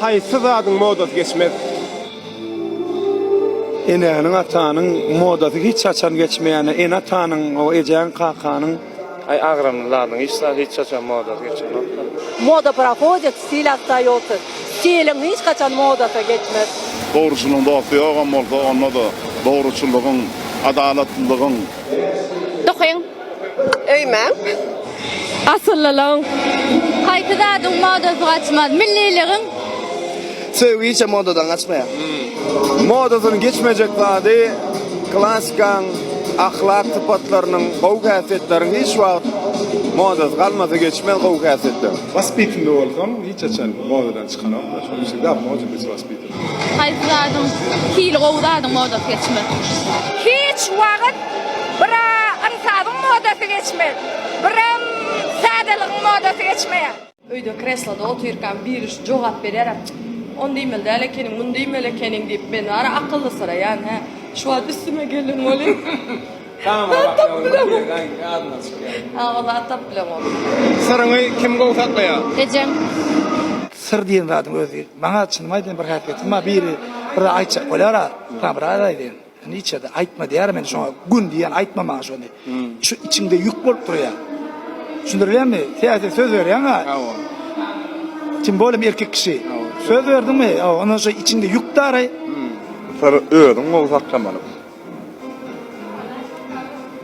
Haýsy zadyň modasy geçmez? Enäniň, atanyň modasy hiç haçan geçmeýänä, ene-atanyň, o ejäň, kakanyň. Aý agramly zadyň hiç zat hiç haçan modasy geçenokda. Moda prohodit, stil ostaýotsy. Stiliň hiç haçan modasy geçmez. Dogruçylyň dosty ýogam bolsa onda-da dogruçylygyň, adalatlylygyň. Dokyň, Öýme. Asyllylygyň. Haýsy zadyň modasy gaçmaz? Milliligiň. Söýgi hiç hem modadan gaçmaýar. Modasyny geçmejek zady klassikanyň ahlak sypatlarynyň, gowy häsiýetleriň hiç wagt modasy galmasa geçmez gowy häsiýetler. Waspitnli bolsaň hiç haçan modadan çykanoklar. Şonuň üçin gapma oturdyjy waspit. Haýsy zadyň hili gowy zadyň modasy geçmez. Hiç wagyt bira ynsabyň modasy geçmez, biram sadeligiň modasy geçmeýär. Öýde kresloda otyrkam biri şu jogap bererem Ony diýmeli däl ekeniň, muny diýmeli ekeniň diýip men wara akyllysyraýan hä. Şu wagt üstüme gelen welin. Tamara tapyp bilen gowy. Ýadymdan çykýar. Hawa zat tapyp bilen gowy. Syryňy kim gowy saklaýar? Ejem. Syr diýen zadyň özi Maňa çynymy aýdaýyn bir häsiýetim bar biri bir aýtjak bolýara sana bir aýt aýdaýyn indi içerde aýtma diýýär men şoňa gün diýýän aýtma maňa şony şu içiňde ýük bolup durýar düşündirilenmi täze söz berýäňa tim bolem erkek kişi söz berdiňmi ondan şo içiňde ýük dary Sen özüň gowy saklamaly.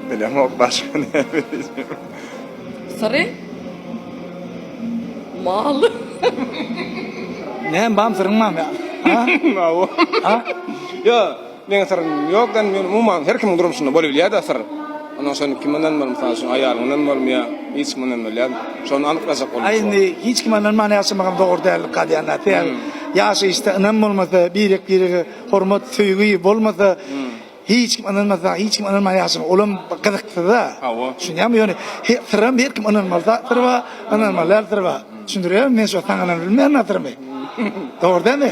Bilemok başga näme diýjek. Syry? Mal. Näme bam syryň bam ya? Ha? Awo. Ha? Yo, meň syrym ýok da, men umuman her kimiň durmuşynda bolup bilýär da syr. Ondan şony kim bilen bolup, mysal üçin, aýalyň bilen bolup ýa hiç kim bilen bolýar. Şony anyklajak bolup. Aý indi hiç kime ynanman ýaşamak hem dogry dällik galýan da. Sebäbi ýaşaýyşda ynam bolmasa, birek-birege hormat söýgi bolmasa hiç kim ynanmasa hiç kim ynanman ýaşaň olam gyzyksyza hawa düşünýäňmi ýöne syram her kim ynanmaly zatlar bar ynanmaly zatlar bar düşündirýärmi men şo saňa ynanyp bilmeýän atyrymy dogry dämi